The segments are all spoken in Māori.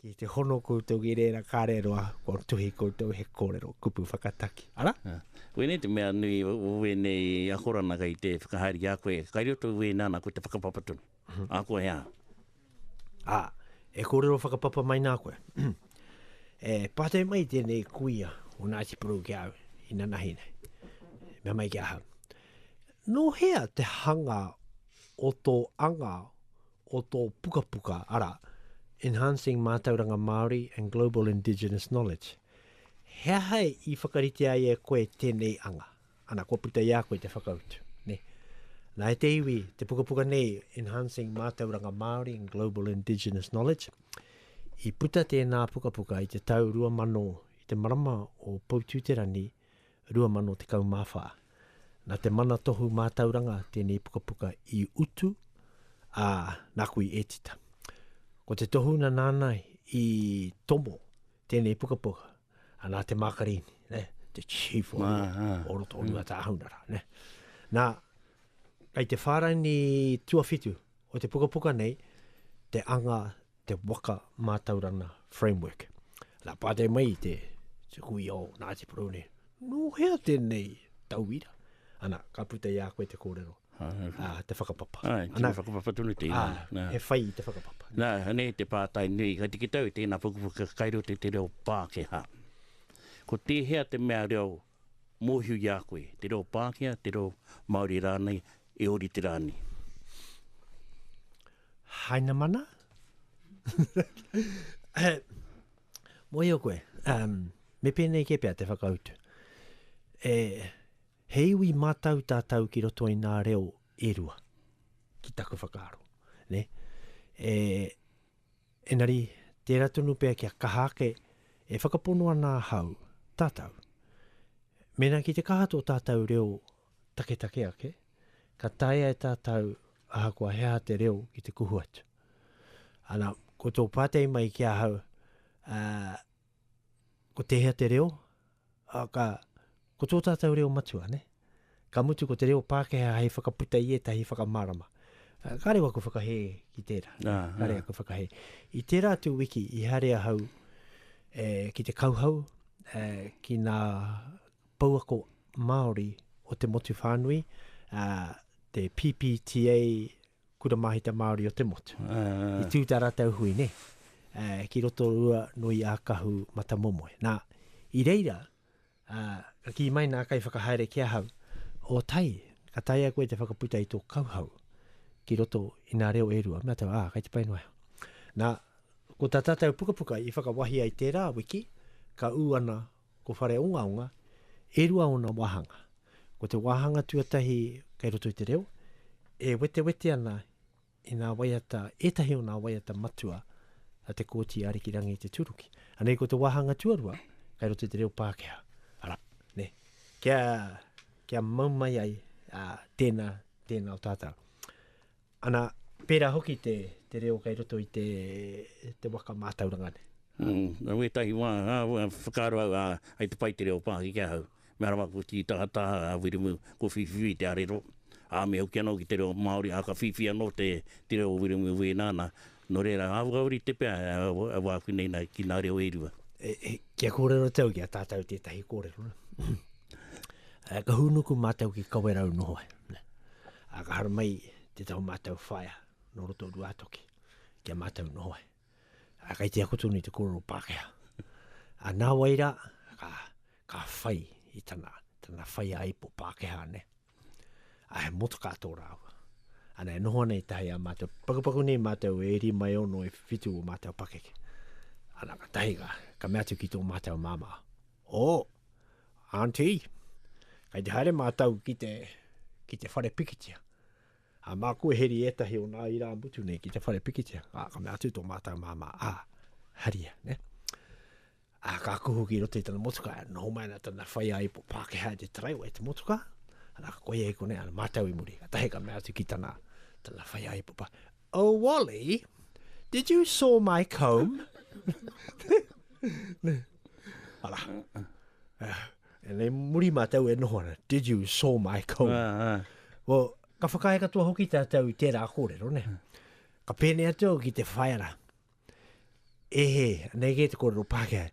Ki te hono koutou ki reira kareroa, kua tuhi koutou he korero kupu whakataki. Ara? Ā, wēnei te mea nui o wēnei akorana kei te whakahaere ki a koe, kai roto i wēnā nā koe te whakapapa tonu. Ā koe ā. Ā, e kōrero whakapapa mai nā koe. E pātai mai tēnei kuia o Ngāti Porou ki a au, inanahi nei. Mea mai ki ahau, Nō hea te hanga o tō anga o tō pukapuka, arā, Enhancing Mātauranga Māori and Global Indigenous Knowledge. He aha i whakaritea ai e koe tēnei anga? Ana, kua puta i a koe te whakautu. Ne? Nā, e te iwi, te pukapuka nei, Enhancing Mātauranga Māori and Global Indigenous Knowledge, i puta tēnā pukapuka i te tau 2000 i te marama o Poutū-te-rangi 2014. Nā te Mana Tohu Mātauranga tēnei pukapuka i utu, ā, nāku i ētita. Ko te tohunga nāna i tomo tēnei pukapuka, a nā te Mākarini, ne? te Chief o, ah, ah. o roto o Rua Tāhaunara. Ne? Nā, kei te whāraini tuawhitu o te pukapuka nei, te anga te waka mātauranga framework. Nā pātai mai i te te kui o Ngāti Porou nei, nō hea tēnei tauira? Ana, ka puta i a koe te kōrero. Ah, ah, te whakapapa. Ah, te Ana, whakapapa tonu te ina. Ah, nah. he whai i te whakapapa. Nā, hane te pātai nui, ka tiki tau i tēnā pukupuku kai roto i te reo Pākehā. Ko tēhea te mea reo Mōhio i a koe, te reo Pākehā, te reo Māori rānei, e ōrite rā nei. Hainamana? Mōhio koe, me pēnei kē pea te whakautu. E, he iwi mātau tātau ki roto i nā reo e rua, ki taku whakaaro. Ne? E, Engari, tērā tonu pea kia kaha ake, e whakapono ana ahau, tātou, mēnā ki te kaha tō tātou reo taketake ake, ka taea e tātou ahakoa he aha te reo ki te kuhu atu. Ana, ko tō pātai mai ki ahau, ā, Ko tēhea te reo? Ā, ka, ko tō tātou reo matua, nē? Ka mutu ko te reo Pākehā hei whakaputa i ētahi whakamārama. Ā, ka reo aku whakahē ki tērā. Ā, ā. Ka reo aku whakahē. I tērā atu wiki, i haere ahau, e, ki te kauhau, e, ki ngā pouako Māori o te motu whānui, ā, te PPTA, Kura Mahita Māori o te motu. Uh. I tū tā rātou hui, ne? Uh, ki roto rua nui a Kahu Matamomoe. Nā, i reira, uh, ka kī mai nā kai whakahaere ki ahau, o tai, ka taia koe te whakaputa i tō kauhau ki roto i nā reo e rua. Mea tau, ā, kai te pai noa. Nā, ko tā tātou pukapuka i whakawahi ai tērā wiki, ka ū ana Ko Whareongaonga, e rua ōna wāhanga. Ko te wāhanga tuatahi kei roto i te reo, e wetewete ana i ngā waiata, ētahi o ngā waiata matua a Te Kooti Arikirangi Te Turuki. Anei ko te wāhanga tuarua kei roto i te reo Pākehā. Arā, nē, kia, kia mau mai ai ā, tēnā, tēnā o tātau. Ana, pērā hoki te, te reo kei roto i te, te waka mātauranga nei. Mm, nō wētahi wā, ā, whakaaro au, ā, hei te pai te reo Pākehā ki ahau. Mea rawa ko Tītahataha, ā, Wiremu, ko Whīwhiwī te arero. Ā, me hoki anō ki te reo Māori, ā, ka whiwhi anō te, te reo o Wiremu wēnā, nā, Nō reira, āhua uri te pea e wā aku nei ki nā reo e rua. Kia kōrero te au ki a tātau tētahi kōrero. Ka hūnuku mātau ki Kawerau noho ai. Ka haramai tētahi o mātau whaea nō roto o Ruātoki ki a mātau noho ai. Kai te ako tonu i te kōrero Pākehā. Nā wai rā, ka whai i tana whaiāipo Pākehā nei. A he motoka tō rāua. Ana e noho ana i tahi a mātou, pakupaku nei mātou e iri mai ono e whitu o mātou pakeke. Ana ka tahi ka, ka mea atu ki tō mātou māmā, o, oh, auntie, kai te haere mātou ki te, ki te whare pikitia. A māku e heri ētahi o nā irā mutu nei ki te whare pikitia. A ka mea atu tō mātou māmā, a, haria, ne? Ā, ka kuhu ki roto i tana motukā, noho mai ana tana whaiāipo Pākehā i te taraiwa i te motukā, arā, ka koia e konei ana mātau i muri. Kātahi ka mea atu ki tana, tana whaiāipo Pā, Oh, Wally, did you saw my comb? Arā. Uh, e nei muri mātau e noho ana, did you saw my comb? Ah, ah. Well, ka whakaae katoa hoki tātou i tērā kōrero, ne? Ka pēnei atu au ki te whaera. E he, nei kē te kōrero Pākehā.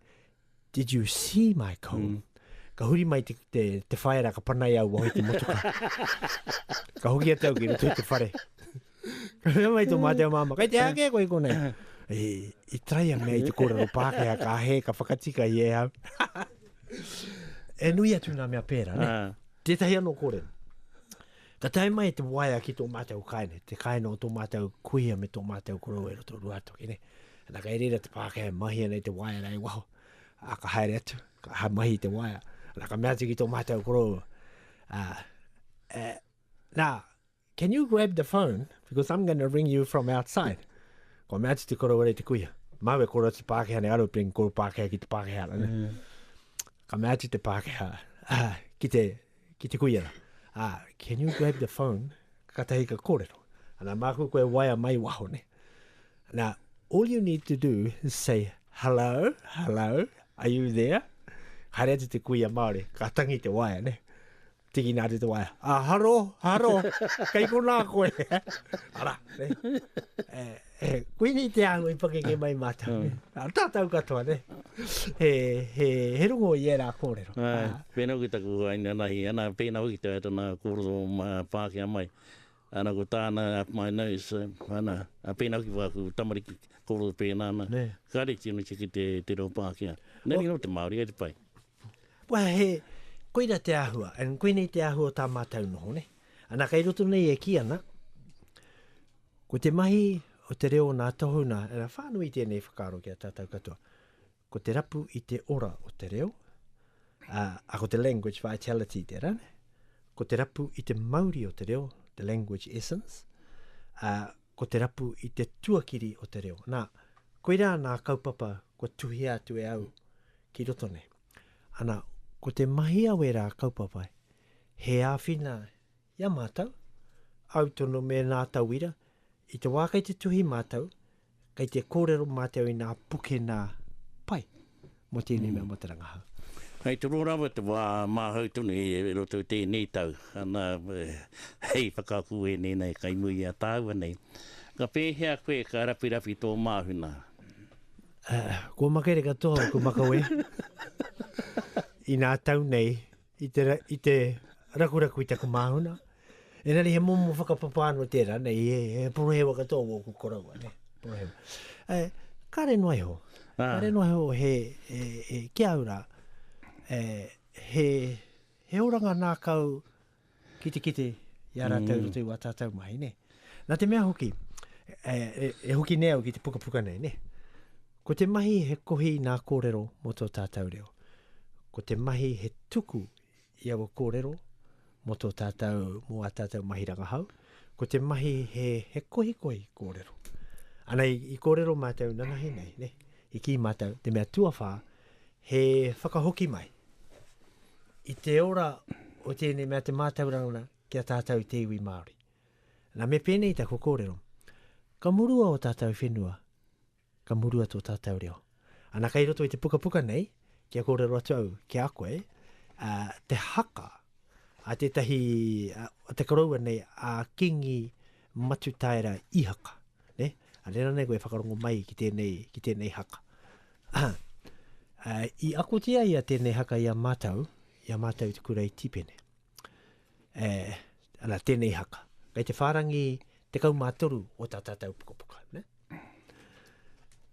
Did you see my comb? Mm. Ka huri mai te, te, te whaera, ka panai au waho i te motoka. ka hoki atu au ki roto i te whare. ka reo mai tō mātou māma, kai te ake koe konei. E, i trai a mea i te kōrero Pākehā, ka he, ka whakatika i e au. e nui atu nā mea pērā, ne? Ah. Tētahi anō kōrero. Ka tae mai te waea ki tō mātou kāinga, te kāinga o tō mātou kuia me tō mātou korou e roto Ruatoki nei. Ana kei reira te Pākehā e mahia nei te waea rā i waho. A, ka haere atu, ka ha mahi te waea. Ana ka mea atu ki tō mātou korou, a, e, nā, can you grab the phone because I'm going to ring you from outside. Ko mea atu te korou rei te kuia. Mau e koro atu Pākehā nei aro pring koro Pākehā ki te Pākehā. Mm. Ka mea atu te Pākehā, ah, ki te Ki te kuia, ā, can you grab the phone, katahi ka kōrero. Ana, māku koe e waea mai waho ne. Nā, all you need to do is say, hello, hello, are you there? Haere atu te kuia Māori, ka tangi te waea ne. Tiki nā te waea, a haro, haro, kei konā koe. Ara, ne. Eh, He kuini te āhua i pakeke mai mātou. Ah. Ah, tātou katoa, ne? He, he, he rongo i ērā kōrero. Ai, Ah, pēnā ki taku waina nahi, ana pēnā hoki te tana kōrero mā Pākehā mai. Ana ko tāna up my nose, eh, ana, a pēnā hoki wāku tamariki kōrero pēnā ana. Nē. Kāre tino tiki te, te reo Pākehā. Nani no te Māori e te pai. Wā, he, koira te āhua, and koinei te āhua o tā mātou noho, ne? Ana, kei roto nei e kī ana, Ko te mahi o te reo nā Tohu nā, ina whānui i tēnei whakaaro ki a tātou katoa, ko te rapu i te ora o te reo, ā, ā, ko te language vitality tērā, nē? Ko te rapu i te mauri o te reo, the language essence, ā, ko te rapu i te tuakiri o te reo. Nā, koirā nā kaupapa kua tuhia atu e au ki roto nei. Ana, ko te mahi a wērā kaupapa, he āwhina I a mātou, au tonu me nā tauira, i te wā kei te tuhi mātou, kei te kōrero mātou i nā pukena pai mō tēnei mea mō te rangahau. Hei toro rawa te wā māhau tonu i roto i tēnei tau, ana hei whakaako wēnei nei kai muri i a tāua nei, ka pēhea koe ka rawhirawhi tō māhuna? Kua makere katoa aku makawe i nā tau nei i te, i te rakuraku i taku māhuna. Engari he momo whakapapa anō tērā, nei, he, he porohewa katoa o ku koroua, ne? Porohewa. E, eh, kare noa iho. Ah. Kare noa iho he, e, e, ki au rā, e, he, he oranga nā kau ki te kite i a rātou mm. rutu i tātou mahi, ne? Nā te mea hoki, e, e, e hoki nei au ki te pukapuka nei, ne? Ko te mahi he kohi nā kōrero mō tō tātau reo. Ko te mahi he tuku i aua kōrero mō tō tātau, mō ā tātau mahi rangahau. Ko te mahi he, he kohikohi kōrero. Ana i, i kōrero mātau nanahi nei, ne? I kī mātau, te mea tuawhā, he whakahoki mai i te ora o tēnei mea te mātauranga ki a tātau te iwi Māori. Nā, me pēnei taku kōrero. Ka murua o tātau whenua, Ka murua tō tātou reo. Ana kei roto i te pukapuka nei, kia kōrero atu au ki a koe, ā, te haka a tētahi, a te koroua nei, a Kīngi Matutaera Īhaka, nē? A rērā nei koe e whakarongo mai ki tēnei, ki tēnei haka. Ā, i akotia ia tēnei haka i a mātou, i a mātou i te kura i Tīpene. E, ana, tēnei haka. Kei te whārangi tekau mā toru o tā tātou pukapuka, ne?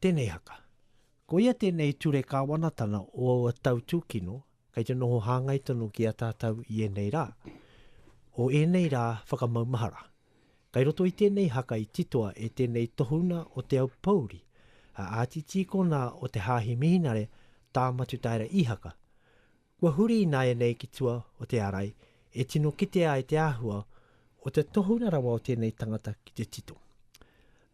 Tēnei haka. Ko ia tēnei ture kāwanatanga o aua tau tūkino, kei te noho hāngai tonu ki a tātou i ēnei rā. O ēnei rā whakamaumahara. Kei roto i tēnei haka i titoa e tēnei tohunga o Te Aupōuri, a Āti Tīkona o te Hāhi Mihinare, Tā Matutaera Īhaka, Kua huri ināianei ki tua o te arai e tino kitea ai te āhua o te tohunga rawa o tēnei tangata ki te tito.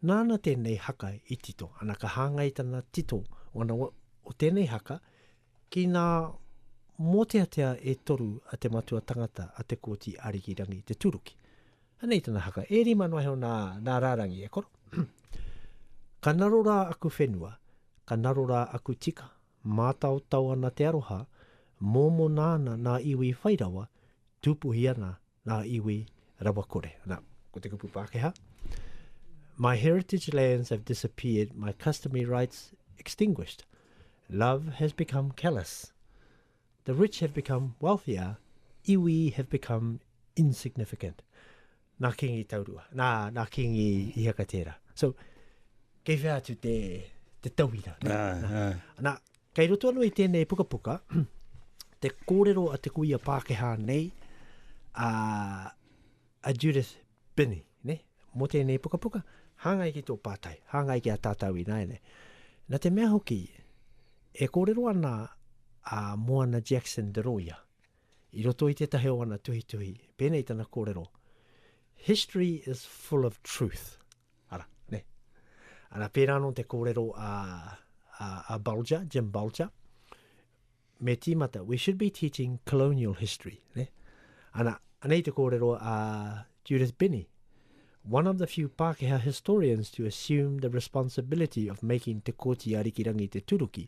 Nāna tēnei haka i tito, ana ka hāngai tana tito ona o tēnei haka ki ngā mōteatea e toru a te matua tangata a Te Kooti Arikirangi Te Tūruki. Anei tana haka, e rima noa iho nā, nā rārangi e koro. Ka naro rā aku whenua, ka naro rā aku tika, Mātaotao ana te aroha, mōmona ana ngā iwi whai rawa, tūpuhi ana ngā iwi rawakore. Nā, ko te kupu Pākehā, My heritage lands have disappeared, my customary rights extinguished. Love has become callous. The rich have become wealthier, iwi have become insignificant. Nā Kīngi Taurua, nā, nā Kīngi i haka tērā. So, kei whea atu te, te tauira. Nā, nā. Ah, nā. Ah. nā, kei roto anō i tēnei pukapuka, te kōrero a te kuia Pākehā nei, a, a Judith Binney, ne? mō tēnei pukapuka, hāngai ki tō pātai, hāngai ki a tātou i nāianei. Nā te mea hoki, e kōrero ana a Moana Jackson de Roia, I roto i tētahi o ana tuhituhi, pēnei tana kōrero, History is full of truth. Ara, ne. Ara, pērā anō te kōrero a, a, a Bulger, Jim Bulger, me tīmata, we should be teaching colonial history. Ne? Ana, anei te kōrero a Judith Binney, one of the few Pākehā historians to assume the responsibility of making Te Kooti a Rikirangi te turuki,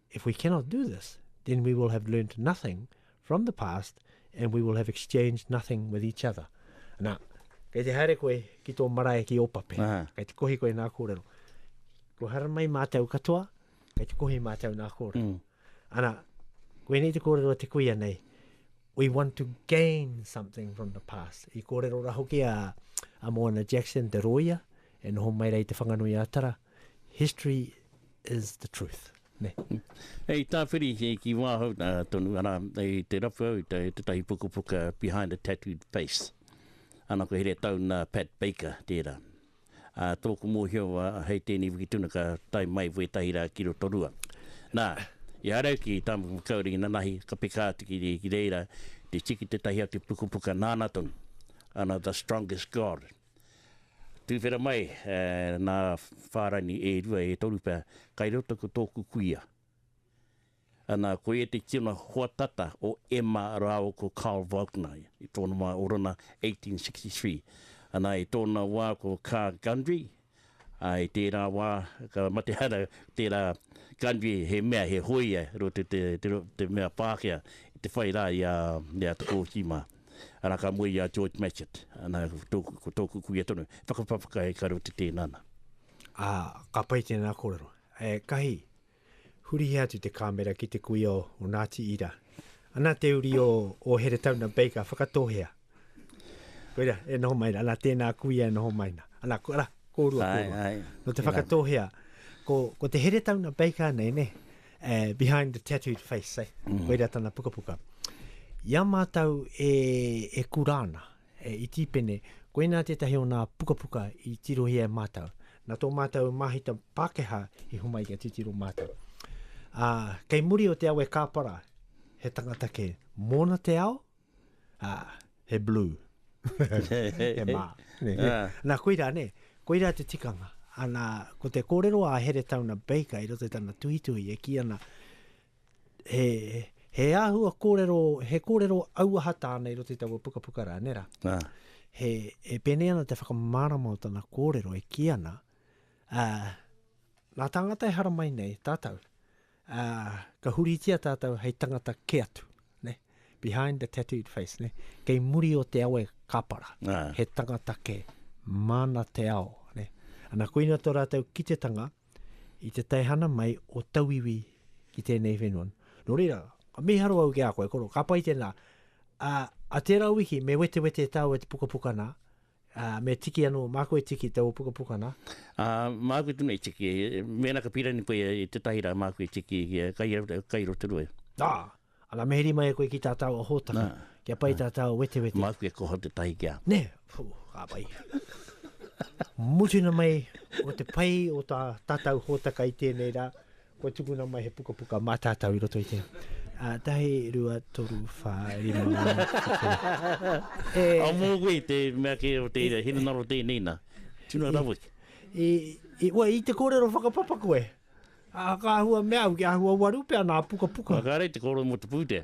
If we cannot do this, then we will have learnt nothing from the past and we will have exchanged nothing with each other. Nā, kei te haere koe ki tō marae ki Opape, Aha. kei te kohi koe nā kōrero. Ko hara mai mātou katoa, kei te kohi mātou nā kōrero. Mm. Ana, koenei te kōrero te kuia nei, we want to gain something from the past. I kōrero ra hoki a, a Moana Jackson, te roia, e noho mai rei te whanganui a Tara, History is the truth. Ne. Hei tāwhiri ki wāhau nā tonu, ana, hei te rapu au, te tahi pukapuka Behind a Tattooed Face. Ana ko here tau nā Pat Baker tērā. A, tōku mōhio wā, hei tēnei wiki tuna ka tai mai wētahi rā ki roto rua. Nā, i arau ki tāmu makauri i nanahi, ka peka atu ki, ki reira, te tiki te tahi atu pukapuka nāna tonu. Ana, The Strongest God. Tuwhera mai nā whārangi e rua, e toru pea, kai roto ko tōku kuia. Ana, koia te tino hoa tata o Emma rāua ko Carl Volkner, i tōna wā, Orana, 1863. Ana, i tōna wā ko Carr Gundry, I tērā wā, ka mate hara tērā country, he mea, he hōia ro te te mea Pākehā i te whai rā i a a Tokooki mā. Arā ka moe i a George Matchett, ana tōku, ko tōku kuia tonu, he whakapapa kai ka ro te tēnana. Ā, ka pai tēnā kōrero. Ētahi. Hurihia atu te kāmera ki te kuia o Ngāti Ira. Ana te uri o, o Heretaunga Baker, whakatohea. Koira, e noho mai na. Ana tēnā kuia e noho mai na. Ana, ko, ara, kōrua, ai, kōrua. Ai, no te whakatohea. Ko, ko te Heretaunga Baker nei, ne? Uh, behind the tattooed face, eh? Mm. Koira tana pukapuka. Ia mātou e, e kurāna, He iti pene, koinā tētahi o nā pukapuka i tirohia e mātou. Nā tō mātou māhita Pākehā i homai kia titiro mātou. Ā, kei muri o te awe kāpara, he tangata kē, mōna te ao, ā, he blue. he mā. Nā, koirā, nē, koirā te tikanga. Anā, ko te kōrero a Heretaunga Baker i roto i tana tuhituhi e kī ana, He, he āhua kōrero, he kōrero auaha tāna i roto i taua pukapuka rā, nē rā? Nā. He, e pēnei ana te whakamārama o tana kōrero e kī ana, ā, nā tāngata e haramai nei tātou, ā, ka huritia tātou hei tangata kē atu, nē, behind the tattooed face, nē, kei muri o te awe kāpara, nā. he tangata kē, māna te ao, nē. Ana, koina tō rātou kitetanga, i te teihana mai o tauiwi ki tēnei whenua. Nō reira, ka miharo au ki a koe, koro, ka pai tēnā. A, a tērā wiki, me wetewete tāu e te pukapuka nā, a, me tiki anō, māku e tiki tō pukapuka nā. A, māku tonu e tiki, mēnā ka pīrani koe i tētahi rā, māku e tiki, kai, kai rotorua. Ā! Ana meheri mai e koe ki tā tāua hōtaka, kia pai tā tāua wetewete. Māku e koha tētahi ki a. Nē, pū, ka pai. Mutunga mai o te pai o tā tātau hōtaka i tēnei rā, kua tukuna mai he pukapuka mā tātau i roto i te. Ā, tahi, rua, toru, whā, rima, ngā, tuku. E. Ā, mō koe te mea kē o te hinengaro tēnei nā, tuna raweke. I, i, wai, i te kōrero whakapapa koe? Ā, ka āhua mea au, kia āhua waru pea nā pukapuka. Whakaari te kōrero mō te pūtea.